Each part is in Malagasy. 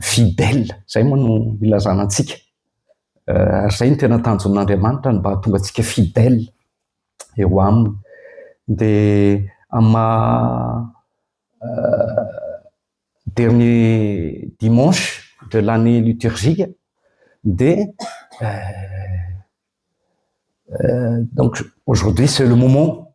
Fidèle, izay moa no ilazana antsika. Ary izay no tena tanjon'Andriamanitra, ny mba hahatonga antsika fidèle eo Aminy. Dia amin'ny maha dernier dimanche de l'année liturgique dia donc aujourd'hui c'est le moment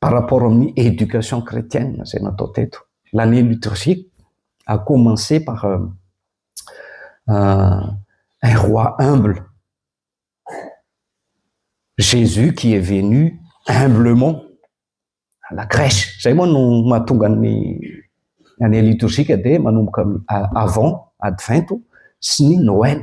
par rapport amin'ny éducation chrétienne izay natao teto. L'année liturgique a commencé par euh, un roi humble. Jésus qui est venu humblement à la crèche. Zay moa no mahatonga ny année liturgique dia manomboka amin'ny avant advento sy ny Noël.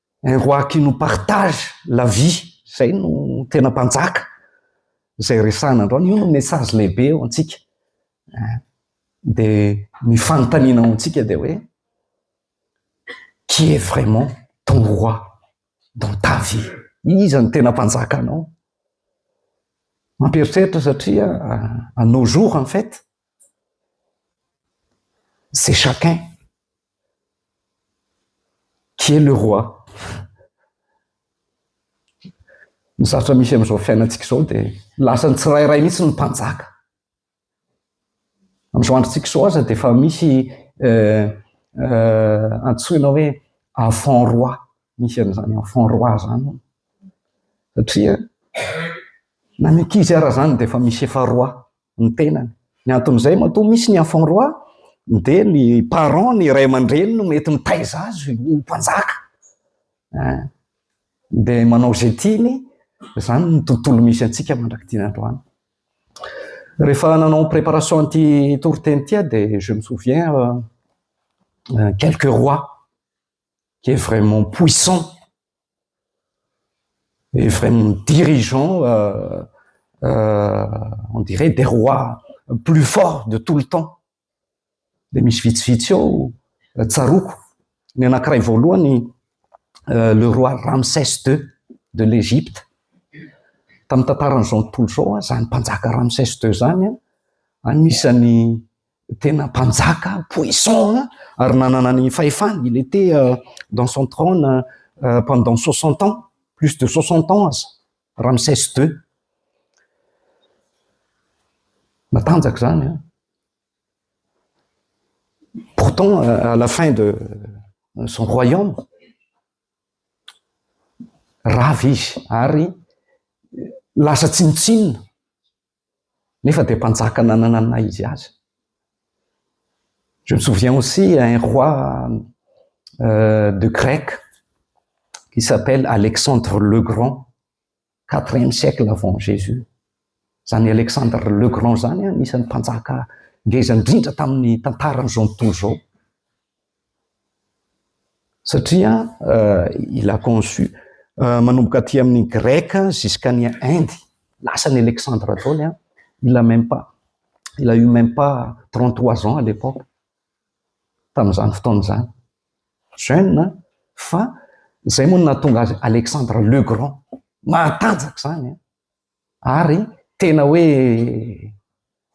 un roi qui nous partage la vie zay no tena mpanjaka zay resahana androany, io no message lehibe ho antsika eh, de ny fanontaniana ho antsika de hoe qui est vraiment ton roi dans ta vie, iza no tena mpanjaka anao mampieritreritra satria à nos jours en fait c'est chacun Qui est le roi? Ny sarotra misy amin'izao fiainantsika izao dia lasa ny tsirairay mihitsy no mpanjaka. Amin'izao androntsika izao aza dia efa misy euh, euh, antsoina hoe enfant roi, misy an'izany enfant roi izany. Satria na ny ankizy ara izany dia efa misy efa roi. ny tenany. Ny anton'izay matoa misy ny enfant roi dia ny parents, ny ray aman-dreny no mety mitaiza azy ho mpanjaka. Eh. Dia manao izay tiany, izany ny tontolo misy antsika mandrak'ity androany. Rehefa nanao ny préparation an'ity toriteny ity aho dia je me souviens euh, euh, quelques rois. qui est vraiment puissant et vraiment dirigeant, euh, euh, on dirait des rois plus forts de tout le temps. Dia misy vitsivitsy eo euh, tsaroko. Ny anankiray voalohany, euh, le roi Ramsès II de l'Égypte. Tamin'ny tantaran'izao tontolo izao, izany mpanjaka Ramsès II izany, anisan'ny Tena mpanjaka puissant ary nanana ny fahefany, il était dans son trône pendant soixante ans, plus de soixante ans aza, Ramsès ii. Matanjaka izany an! Pourtant, à la fin de son royaume, rava izy ary lasa tsinontsinona. Nefa dia mpanjaka nanana ny naha izy azy. Je me souviens aussi un roi euh, de grec qui s'appelle Alexandre le Grand, quatrième siècle avant Jésus. Izany Alexandre le Grand izany anisan'ny mpanjaka ngeza indrindra tamin'ny tantaran'izao tontolo izao. Satria il a conçu manomboka aty amin'ny greka jusqu'à ny Inde, lasa ny Alexandre daholo an, il a même pas, il a eu même pas trente trois ans à l'époque, tamin'izany fotoana izany, jeune an, fa izay moa no nahatonga azy Alexandre le grand, mahatanjaka izany an. Ary tena hoe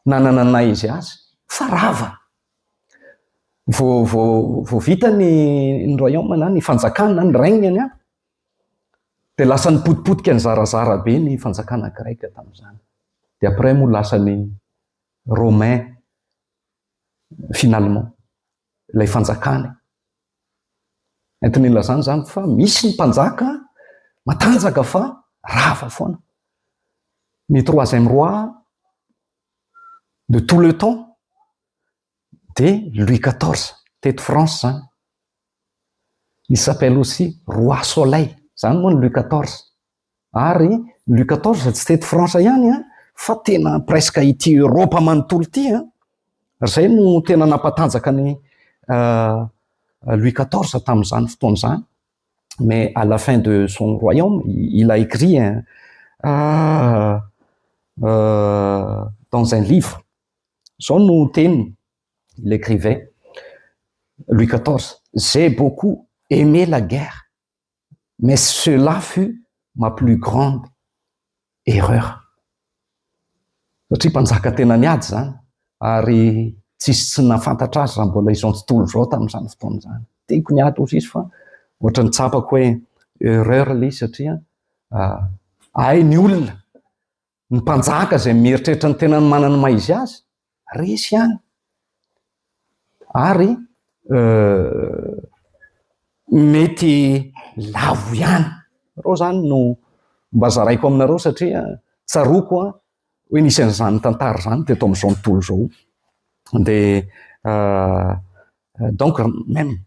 nanana ny naha izy azy. Fa rava! Vao, vao, vao vita ny, ny Royaume na ny Fanjakana na ny règne any an, dia lasa nipotipotika nizarazara be ny Fanjakana Greka tamin'izany. Dia après moa lasa ny Romain finalement. ilay fanjakany. Entin'ny ilazana izany fa misy ny mpanjaka matanjaka fa rava foana. Ny troisième roi de tout le temps de Louis XIV teto France zany. Il s'appelle aussi roi soleil, zany moa ny Louis XIV. Ary Louis quatorze tsy teto France ihany an, fa tena presque ity Europe manontolo ity an, izay no tena nampatanjaka an'i Louis quatorze tamin'izany fotoana izany, mais à la fin de son royaume il a écrit un dans un livre, izao no teniny, il écrivait Louis quatorze, j'ai beaucoup aimé la guerre, Mais cela fut ma plus grande erreur. Satria mpanjaka tena niady izany ary tsisy tsy nahafantatra azy raha mbola izao tontolo izao tamin'izany fotoana izany. Tiako niady hozy izy fa ohatrany tsapako hoe erreur ilay izy satria hay ny olona Ny mpanjaka izay mieritreritra ny tenany manana ny maha izy azy, resy ihany. Ary mety lavo ihany. Ireo izany no mba zaraiko aminareo satria tsaroako hoe nisy an'izany tantara izany teto amin'izao tontolo izao. Dia donc même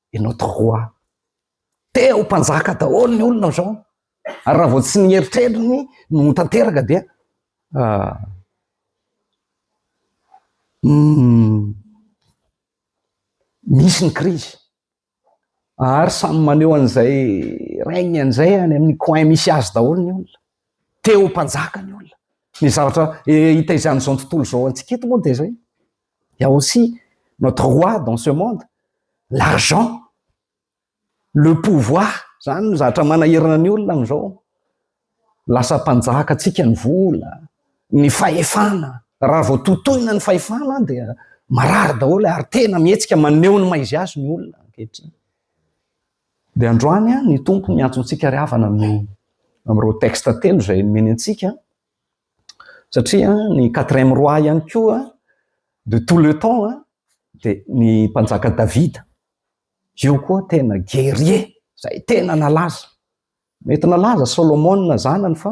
et notre roi te ho mpanjaka daholo ny olona zao ary raha vao tsy ny eritreriny no ho tanteraka dia misy ny krizy ary samy maneho an'izay règne an'izay any amin'ny coin misy azy daholo ny olona te ho mpanjaka ny olona ny zavatra hitaizan'izao ny tontolo zao antsika eto moa dia zay Il y a aussi notre roi dans ce monde, l'argent, le pouvoir, zany no zatra manahirana ny olona amzao, lasa mpanjaka tsika ny vola, ny fahefana, raha vao totoina ny fahefana dia marary daholo ary tena mihetsika maneho ny maizy azy ny olona ankehitriny. Dia androany ny Tompo miantso antsika ry havana amin'ireo textes telo izay nomeny antsika, Satria ny quatrième roi ihany koa de tout le temps an, dia ny mpanjaka Davida. Io koa tena guerrier, izay tena nalaza. Mety nalaza Solomona zanany fa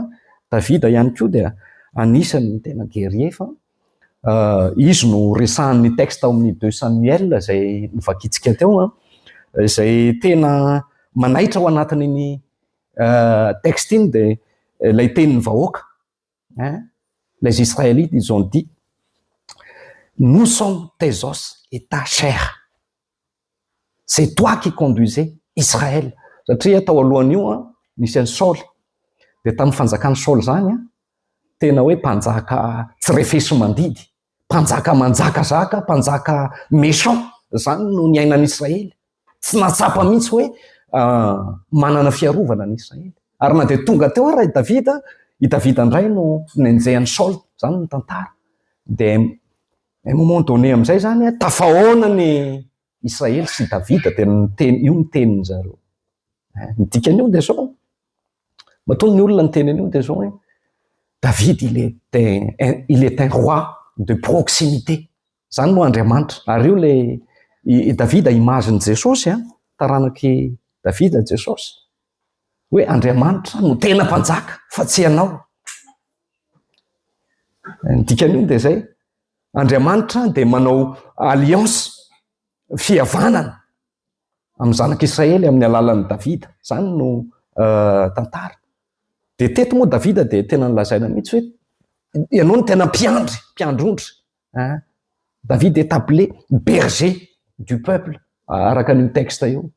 Davida ihany koa dia anisan'ny tena guerrier fa izy no resahan'ny texte ao amin'ny deux Samuel izay novakintsika teo an, izay tena manaitra ao anatin'iny Texte iny dia ilay tenin'ny vahoaka, les Israélites ils ont dit nous sommes tes os et ta chair, c'est toi qui conduisais Israël, satria tao alohan'io nisy an'i Saoly, dia tamin'ny fanjakan'i Saoly izany tena hoe mpanjaka tsy refesi-mandidy, Mpanjaka manjakazaka, mpanjaka méchant, izany no niainan'i Israely. Tsy nahatsapa mihitsy hoe manana fiarovana ny Israely. Ary na dia tonga teo ara i Davida, i Davida indray no nenjehan'i Saoly, izany ny tantara. Dia un moment donné amin'izay izany, tafahaona ny Israely sy Davida dia niteny io ny teniny zareo. Eh, ny dikan'io dia zao, matoa ny olona niteny an'io dia zao hoe David il était, il est un roi de proximité. Zany moa Andriamanitra. Ary io le i David image ny Jesosy, a, taranak'i David Jesosy. Hoe Andriamanitra no tena mpanjaka fa tsy ianao. Ny dikan'io dia zay. Andriamanitra dia manao alliance, fihavanana amin'ny zanak'Israely amin'ny alalan'i Davida. Izany no uh, tantara. Dia teto moa Davida dia tena nilazaina mihitsy hoe ianao no tena mpiandry, mpiandry ondry. Hein? David est appelé berger du peuple araka an'io texte io.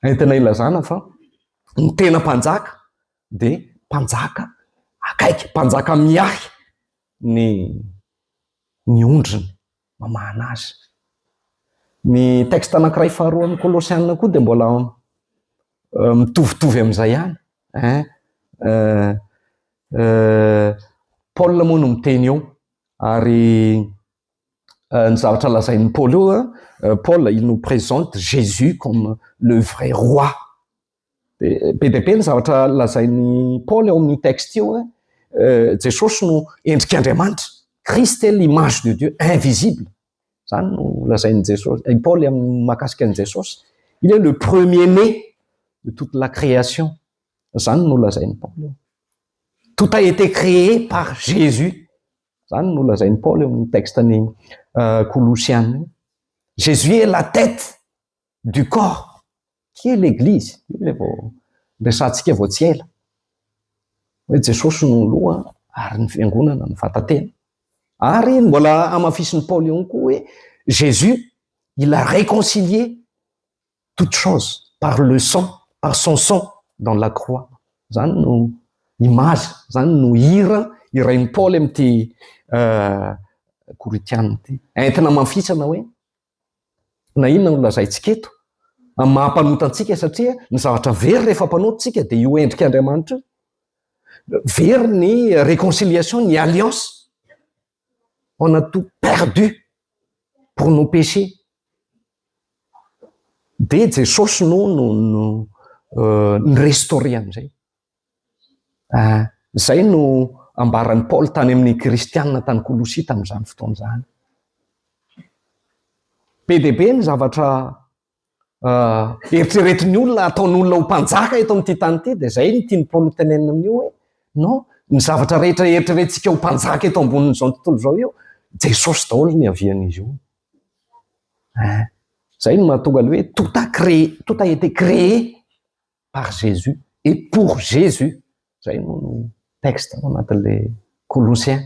Entina ilazana fa ny tena mpanjaka dia mpanjaka akaiky, mpanjaka miahy ny ny ondriny mamahana azy. Ny texte anankiray faharoa amin'ny Kolosiana koa dia mbola mitovitovy amin'izay ihany eh, Paola moa no miteny eo ary ny zavatra lazain'i Paoly eo, Paul il nous présente Jésus comme le vrai roi. Be dia be ny zavatra lazain'i Paoly ao amin'ny texte io. Eh, Jesosy no endrik'Andriamanitra. Christ est l'image de Dieu invisible. Zany no lazain'i Jesosy, i Paoly amin'ny makasika an'i Jesosy. Il est le premier-né de toute la création. Zany no lazain'i Paoly. Tout a été créé par Jésus. Zany no lazain'i Paoly ao amin'ny texte-ny uh, Jésus est la tête du corps qui est l'église, io ilay vao niresahantsika vao tsy ela hoe Jesosy no loha ary ny fiangonana ny vatan-tena. Ary mbola hamafisin'i Paoly ihany koa hoe Jésus il a réconcilié toute chose par le sang, par son sang dans la croix. Izany no image, izany no hira hirain'i Paoly amin'ity Korintiana ity. Entina hamafisana hoe Na inona no lazaintsika eto, amin'ny maha-mpanota antsika, satria ny zavatra very rehefa mpanota isika dia io endrik' Andriamanitra io. Very ny réconciliation, ny alliance. On a tout perdu pour nos péchés. Dia Jesosy no no no ni-restaurer an'izay. Izay no ambaran'i Paoly tany amin'ny Kristianina tany Kolosia tamin'izany fotoana izany. Be dia be ny zavatra eritreretin'ny olona, ataon'olona ho mpanjaka eto amin'ity tany ity, dia izay no tian'i Paoly hotenenina amin'io hoe non, ny zavatra rehetra eritreretintsika ho mpanjaka eto ambonin'izao tontolo izao io, Jesosy daholo no niavian'izy io. Izay no mahatonga ny hoe tout a créé, tout a été créé par Jesus et pour Jesus zay no texte ao anatin'le Colossiens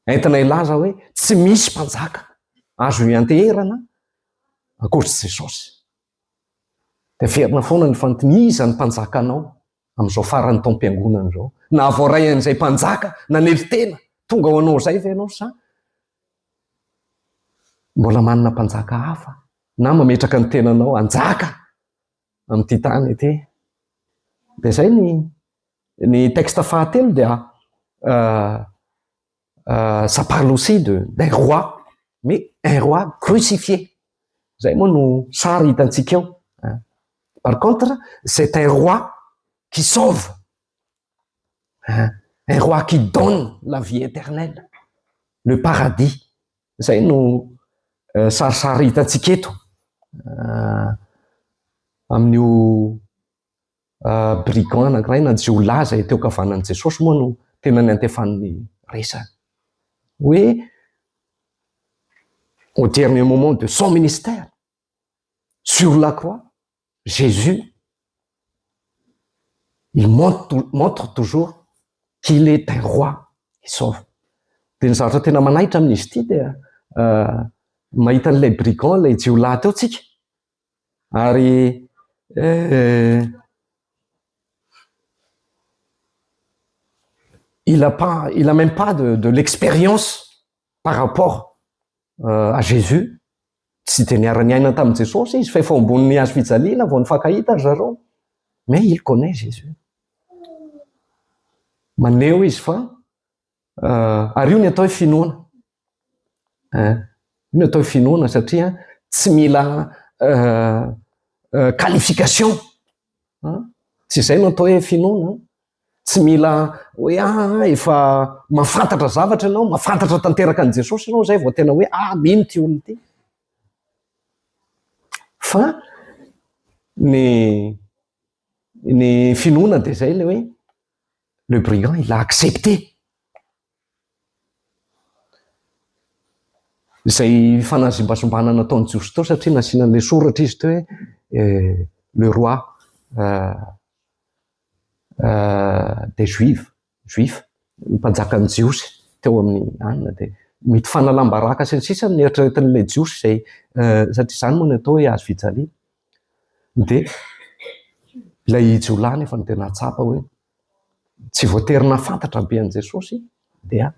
entina hilaza hoe tsy misy mpanjaka azo hianteherana ankoatr'i Jesosy. Dia averina foana ny fanontania, iza ny mpanjakanao amin'izao faran'ny taom-piangonana izao? Na voaray an'izay mpanjaka nanely tena tonga ho anao izay ve ianao sa mbola manana mpanjaka hafa na mametraka ny tenanao hanjaka amin'ity tany ity. Dia izay ny ny texte fahatelo dia euh, euh, ça parle aussi de d'un roi mais un roi crucifié. Izay moa no sary hitantsika eo. Par contre, c'est un roi qui sauve. Hein? Un roi qui donne la vie éternelle, le paradis, zay no sarisary hitantsika eto amin'io brigand anankiray na jiolahy izay teo ankavanan'i Jesosy moa no tena niantefan'ny resany. Hoe au dernier moment de son ministère, sur la croix Jesus il montre toujours qu'il est un roi qui sauve dia ny zavatra tena manaitra amin'izy ity dia mahita an'ilay brigand ilay jiolahy teo tsika ary il a pas il a même pas de de l'expérience par rapport à Jésus, tsy dia niara-niaina tamin'i Jesosy izy fa efa ao ambonin'ny hazo fijaliana vao nifankahita ry zareo, mais il connait Jésus. Maneho izy fa ary io ny atao hoe finoana eh, io ny atao hoe finoana satria tsy mila euh, euh, qualification Tsy izay no atao hoe finoana an! Tsy mila hoe ah efa mahafantatra zavatra ianao, mahafantatra tanteraka an'i Jesosy ianao izay vao tena hoe ah mino ity olona ity. Fa ny ny finoana dia izay ilay hoe le brigand il a accepté. Izay fanazimbazimbana nataon'i Josito satria nasiana an'ilay soratra izy teo hoe le roi des juifs, juif, ny mpanjakan'ny jiosy teo amin'ny anona dia mety fanalam-baraka sy ny sisa no neritreretin'ilay jiosy izay satria izany moa no atao hoe hazo fijaliana. Dia ilay jiolahy anefa no tena hahatsapa hoe. tsy voatery nahafantatra be an'i Jesosy dia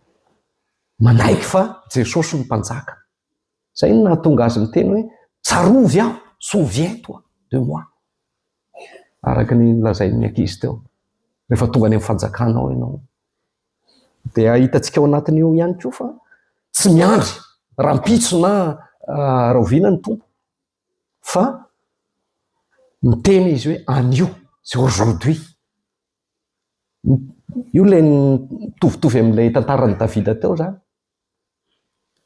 manaiky fa Jesosy no Mpanjaka. Izay no nahatonga azy niteny hoe, Tsarovy aho, souviens-toi de moi. Araka ny nolazain'ny ankizy teo, rehefa tonga any amin'ny fanjakana ao ianao. Dia hitantsika ao anatin'io ihany koa fa tsy miandry rahampitso na rahoviana ny Tompo, fa miteny izy hoe anio c'est aujourd'hui io ilay mitovitovy amin'ilay tantaran'i Davida teo zany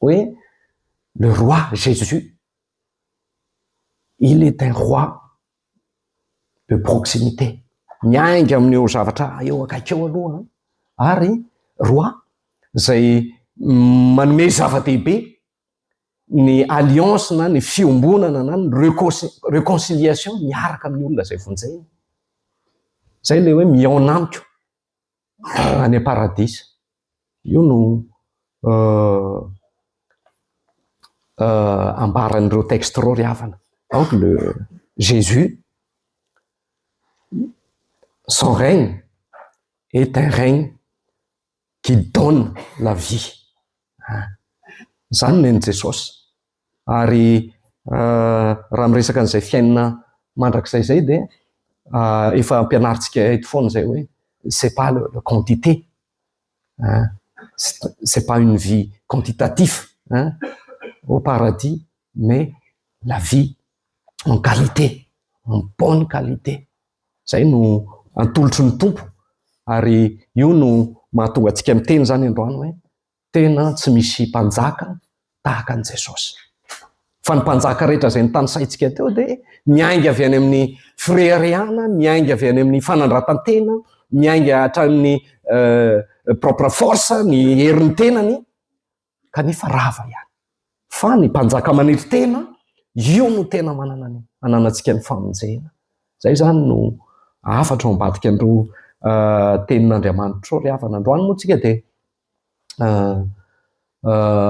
hoe le roi Jésus il est un roi de proximité miainga amin'io zavatra eo akaiky eo aloha ary roi izay manome zava-dehibe ny alliance na ny fiombonana na ny reconciliation miaraka amin'ny olona izay vonjena. Zay le hoe mihaona amiko any am-paradisa. Io no euh, euh, ambaran'ireo texte reo ry havana. Donc le Jésus, son règne est un règne Guide dans la vie. Ah. Izany no nen'i Jesosy. Ary raha miresaka an'izay fiainana mandrakizay izay dia efa ampianarintsika eto foana izay hoe c'est pas le, le quantité. Ah. C'est pas une vie quantitative hein, au paradis, mais la vie en qualité, en bonne qualité. Izay no atolotry ny Tompo ary io no mahatonga antsika miteny izany androany hoe tena tsy misy mpanjaka tahaka an'i Jesosy. Fa ny mpanjaka rehetra izay notanisaintsika teo dia miainga avy any amin'ny fireharehana, miainga avy any amin'ny fanandratan-tena, miainga hatramin'ny euh, propre force, ny herin'ny tenany, kanefa rava ihany. Fa ny mpanjaka maniry tena, io no tena manana ny ananantsika ny famonjena. Izay izany no hafatra ao ambadika an'ireo tenin'Andriamanitra ireo ry havana. Androany moa tsika dia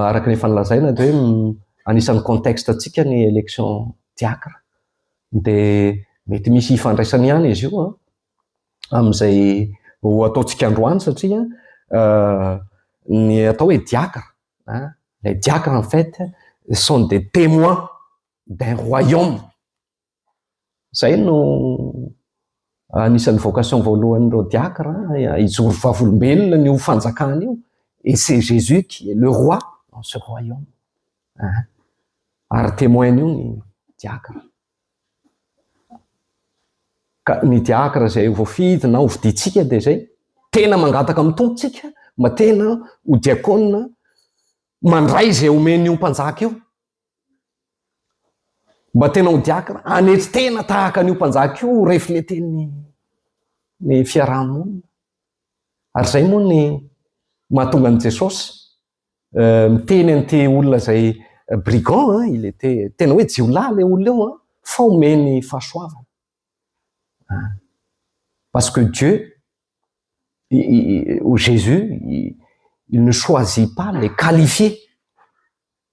araka ny efa nolazaina dia hoe anisan'ny contexte antsika ny élection diacre. Dia mety misy hifandraisany ihany izy io an. amin'izay ho ataontsika androany satria ny atao hoe diacre, les diacres en fait sont des témoins d'un royaume, izay no anisan'ny vocation voalohan'ireo diacre, hijoro vavolombelona ny ho fanjakana io, et c'est Jésus qui est le roi dans ce royaume, ary témoin-n'io ny diacre. Ka ny diakra izay ho voafidy na ho fidintsika dia izay tena mangataka amin'ny Tompontsika mba tena ho diakona mandray izay omeny io mpanjaka io. Mba tena ho diakra, hanetry tena tahaka an'io mpanjaka io refleten'ny ny fiaraha-monina. Ary izay moa ny mahatonga an'i Jesosy Euh, miteny an'ity olona izay euh, brigand hein, il était tena hoe jiolahy ilay olona eo hein, fa omeny fahasoavana. Hein. Parce que Dieu, i, i, ou Jésus, i, il ne choisit pas les qualifiés,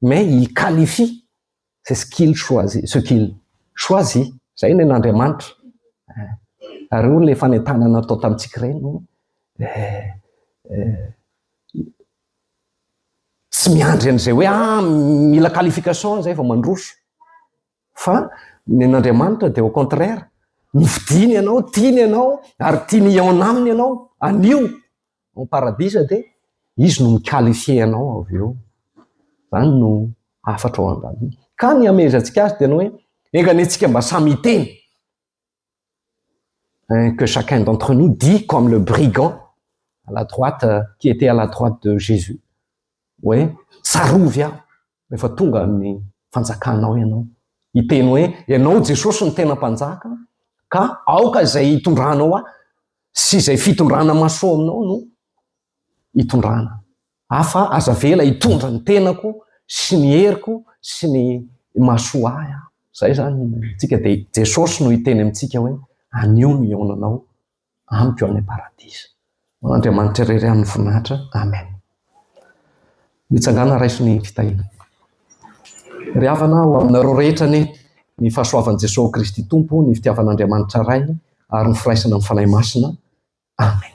mais il qualifie C'est ce qu'il choisit, ce qu'il choisit, izay ny an'Andriamanitra. Eh, ary hoy ilay fanentanana natao tamintsika ireny hoe eh, eh, tsy miandry an'izay hoe ah, mila qualification izay vao mandroso. Fa ny an'Andriamanitra dia au contraire, nofidiany ianao, tiany ianao, ary tiany hihaona aminy ianao, anio. Ao paradisa dia izy no mi-qualifier anao avy eo. Izany no hafatra ao andaniny. Ka ny hamehezantsika azy dia ny hoe, enga anie tsika mba samy hiteny. Eh, que chacun d'entre nous dit comme le brigand à la droite, euh, qui était à la droite de Jésus. Hoe, tsarovy aho, Rehefa tonga amin'ny fanjakanao ianao, hiteny hoe, Ianao Jesosy no tena mpanjaka, ka aoka izay hitondranao ahy sy izay fitondrana mahasoa aminao no hitondrana ahy, fa aza avela hitondra ny tenako sy ny heriko sy ny mahasoa ahy aho. Izay izany no antsika, dia Jesosy no hiteny amintsika hoe, Anio ny hihaonanao amiko any paradisa. Ho an'Andriamanitra irery ihany ny voninahitra. Amen. Mitsangàna raiso ny fitahiana. Ry havana, ho aminareo rehetra anie ny fahasoavan'i Jesoa Kristy Tompo, ny fitiavan'Andriamanitra Ray ary ny firaisana amin'ny Fanahy Masina. Amen.